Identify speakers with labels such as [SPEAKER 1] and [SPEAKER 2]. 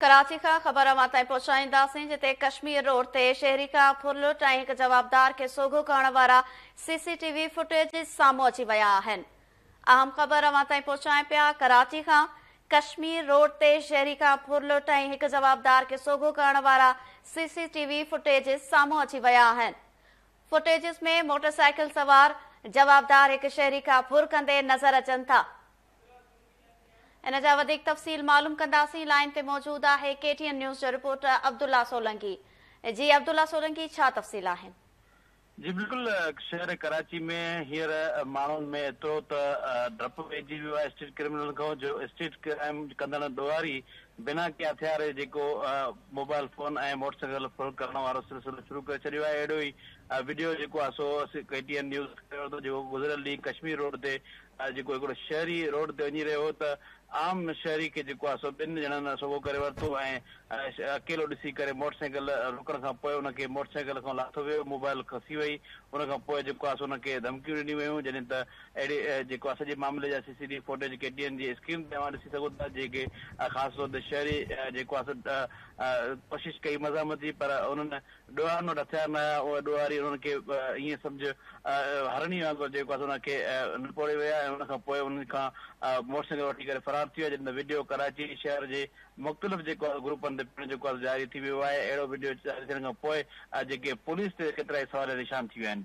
[SPEAKER 1] ڪراچي کان خبر اوهان تائين پهچائينداسين جتي ڪشمير روڊ تي شهري کان ڦر لٽ ۽ هڪ جوابدار کي سوگهو ڪرڻ وارا C C T V footage سامهون اچي ويا آهن اهم خبر اوهان تائين پهچائين پيا ڪراچي کان ڪشمير روڊ تي شهري کان ڦر لٽ ۽ هڪ جوابدار کي سوگهو ڪرڻ وارا C C T V footage سامهون اچي ويا آهن فوٽيجز ۾ موٽر سائيڪل سوار جوابدار هڪ شهري کان ڦر ڪندي نظر اچن ٿا ان جا وڌيڪ تفصيل معلوم ڪنداسين لائين تي موجود آهي ڪي ٽي اين نيوز جو رپورٽر عبدالله سولنگي جي عبدالله سولنگي ڇا تفصيل آهن. جي بلڪل
[SPEAKER 2] شهر ڪراچي ۾ هينئر ماڻهن ۾ ايترو ته ڊپ پئجي ويو آهي اسٽريٽ ڪرمنلن کان جو اسٽريٽ ڪرائم ڪندڙ ڏوهاري بنا ڪنهن هٿيار جي جيڪو موبائل فون ۽ موٽر سائيڪل ڦر ڪرڻ وارو سلسلو شروع ڪري ڇڏيو آهي اهڙو ئي وڊيو جيڪو آهي سو ڪي ٽي اين نيوز کڻي ورتو جيڪو گذريل ڏينهن ڪشمير روڊ تي جيڪو هڪڙو شهري روڊ تي وڃي رهيو هو ته عام شهري کي جيڪو آهي سو ٻن ڄڻن سوگهو ڪري ورتو ۽ اڪيلو ڏسي ڪري موٽر سائيڪل روڪڻ کان پوء ان کي موٽر سائيڪل کان لاٿو ويو موبائل کسي وئي ان کان پوء جيڪو آهي سو ان کي ڌمڪيون ڏنيون ويون جڏهن ته اهڙي جيڪو آهي سڄي معاملي جا سي سي ٽي فوٽيج ڪي ٽي اين جي اسڪرين تي اوهان ڏسي سگهو ٿا جيڪي خاص طور تي شهري جيڪو آهي سو ڪوشش ڪئي مزاحمت جي پر انهن ڏوهارن وٽ هٿيار نه هيا، اهي ڏوهاري انهن کي ائين سمجهه هرڻي وانگر جيڪو آهي سو انهن کي نپوڙي ويا ۽ ان کان پوء انهن کان موٽر سائيڪل وٺي ڪري فرار ٿي ويا جن جو وڊيو ڪراچي شهر جي مختلف جيڪو آهي گروپن تي پڻ جيڪو آهي جاري ٿي ويو آهي اهڙو وڊيو جاري ٿيڻ کان پوء جيڪي پوليس تي ڪيترائي سواليا نشان ٿي ويا آهن.